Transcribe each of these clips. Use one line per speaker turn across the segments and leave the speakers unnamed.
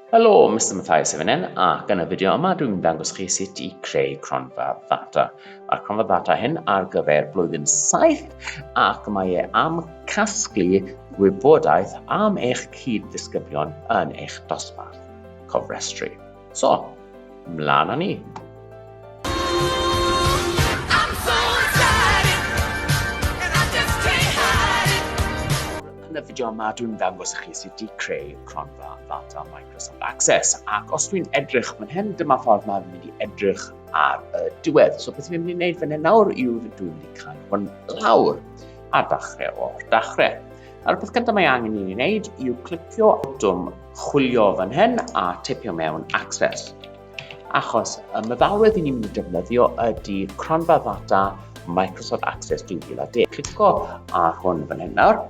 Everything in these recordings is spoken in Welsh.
Helo, Mr Mathias hefyd hyn, ac yn y fideo yma dwi'n mynd dangos chi sut i creu cronfa ddata. Mae'r cronfa ddata hyn ar gyfer blwyddyn 7 ac mae e am casglu gwybodaeth am eich cyd-ddisgyblion yn eich dosbarth cofrestru. So, mlaen â ni. Yn y fideo yma, dwi'n dangos chi sut i creu cronfa ddata Microsoft Access. Ac os dwi'n edrych fan hyn, dyma ffordd mae'n mynd i edrych ar y diwedd. So beth dwi'n mynd i wneud fan hyn nawr yw dwi'n mynd i cael hwn lawr a dachrau o'r dachrau. A'r peth gyntaf mae angen i ni wneud yw clicio botwm chwilio fan hyn a tipio mewn access. Achos y meddalwedd i ni'n mynd i defnyddio ydy cronfa ddata Microsoft Access 2010. Clico ar hwn fan hyn nawr.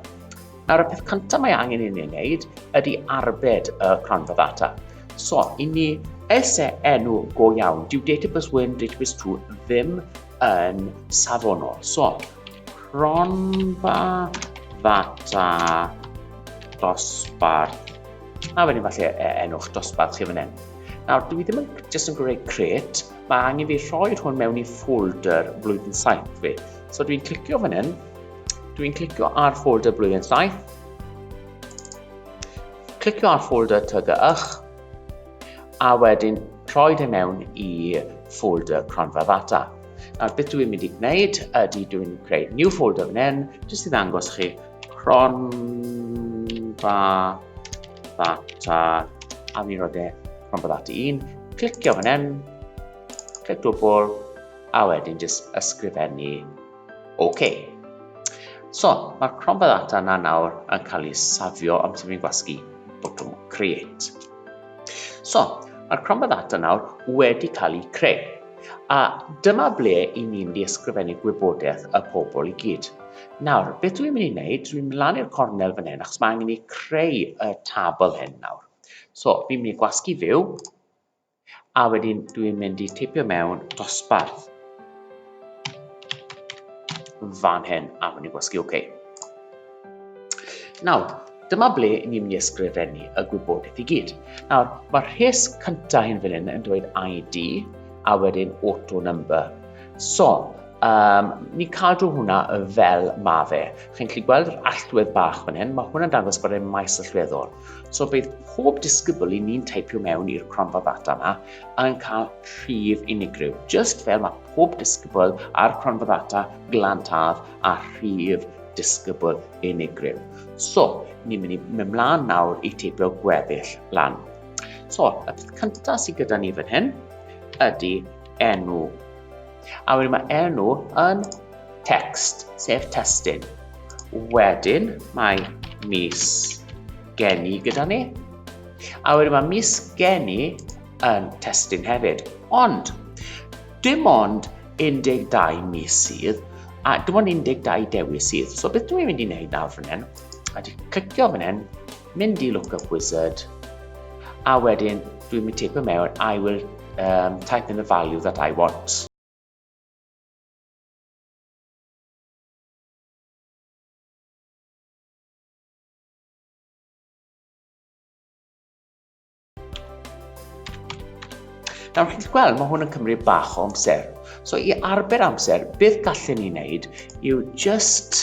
Nawr y peth cyntaf mae angen i ni wneud ydy arbed y cronfa ddata. So, i ni ese enw go iawn, dyw database 1, database 2 ddim yn safonol. So, Cronfa ddata dosbarth. A wedyn falle e, enwch dosbarth chi fan hyn. Nawr, dwi ddim yn jyst yn gwneud create, mae angen fi rhoi hwn mewn i folder blwyddyn 7 fi. So dwi'n clicio fan hyn, dwi'n clicio ar folder blwyddyn 7, clicio ar folder tygy'ch, a wedyn rhoi hyn mewn i folder cronfa ddata. Nawr, beth dwi'n mynd i gwneud ydy dwi'n creu new folder fan hyn, jyst i ddangos chi cronfa ddata a mi roedd e cronfa ddata un. Clicio fan hyn, clic dwbl, a wedyn jyst ysgrifennu OK. So, mae'r cronfa ddata yna nawr yn cael ei safio am sy'n fi'n gwasgu botwm create. So, mae'r cronfa ddata nawr wedi cael ei creu. A dyma ble i ni'n mynd i ysgrifennu gwybodaeth y pobl i gyd. Nawr, beth dwi'n mynd i wneud, dwi'n mynd lan i'r cornel fan hyn, achos mae angen i creu y tabl hyn nawr. So, fi'n mynd i gwasgu fyw, a wedyn dwi'n mynd i teipio mewn dosbarth fan hyn, a wedyn gwasgu OK. Nawr, dyma ble ni'n mynd i ysgrifennu y gwybodaeth i gyd. Nawr, mae'r rhes cyntaf hyn fan hyn yn dweud ID, a wedyn auto number. So, um, ni'n cadw hwnna fel ma fe. Chi'n gallu gweld yr allwedd bach fan hyn, mae hwnna'n dangos bod e'n maes allweddol. So bydd pob disgybl i ni'n teipio mewn i'r cronfa ddata yma yn cael rhif unigryw, just fel mae pob disgybl ar cronfa ddata glantaf a rhif disgybl unigryw. So, ni'n mynd i mynd mlaen nawr i teipio gweddill lan. So, y peth cyntaf sydd gyda ni fan hyn ydy enw. A wedyn mae enw yn text, sef testyn. Wedyn mae mis geni gyda ni. A wedyn mae mis geni yn testyn hefyd. Ond, dim ond 12 mis sydd, a dim ond 12 dewis sydd. So beth dwi'n mynd i wneud nawr fan hyn, a di clicio fan hyn, mynd i Lookup Wizard, a wedyn dwi'n mynd teipio mewn, I will um, type in the value that I want. Nawr, chi'n gweld, mae hwn yn cymryd bach o amser. So, i arbed amser, beth gallwn ni wneud yw just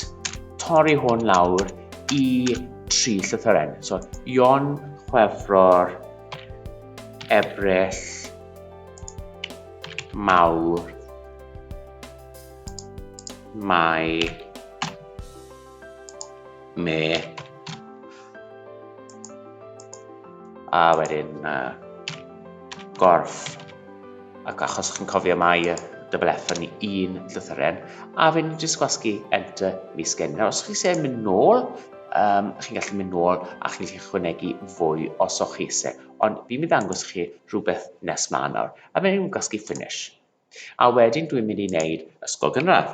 torri hwn lawr i tri llythyren. So, Ion, Chwefror, Ebrill, Mawr, Mai, me a wedyn uh, gorff ac achos chi'n cofio mai y double F yn un llythyren a fe ni'n just gwasgu enter mis gen. Nawr, os chi eisiau mynd nôl, um, chi'n gallu mynd nôl a chi'n gallu chwynegu fwy os o'ch chi eisiau. Ond fi'n mynd ddangos chi rhywbeth nes ma nawr. A fe ni'n gwasgu finish. A wedyn dwi'n mynd i wneud ysgol gynradd.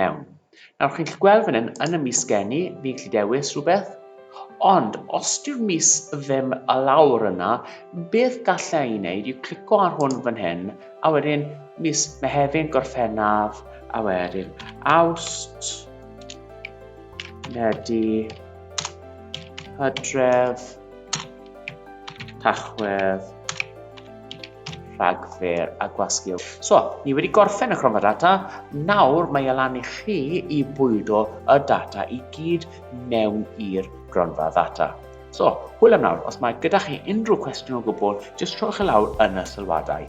mewn. Nawr chi'n gallu gweld fan hyn, yn y mis geni, fi'n gallu dewis rhywbeth, ond os yw'r mis ddim a lawr yna, beth gallai ei wneud yw clico ar hwn fan hyn, a wedyn mis Mehefin, Gorffennaf, a wedyn Awst, Medi, Hydref, Tachwedd, rhagfyr a gwasgu. So, ni wedi gorffen y cronfa data, nawr mae e lan i chi i bwydo y data i gyd mewn i'r gronfa ddata. So, hwyl am nawr, os mae gyda chi unrhyw cwestiwn o gwbl, jyst rhowch e lawr yn y sylwadau.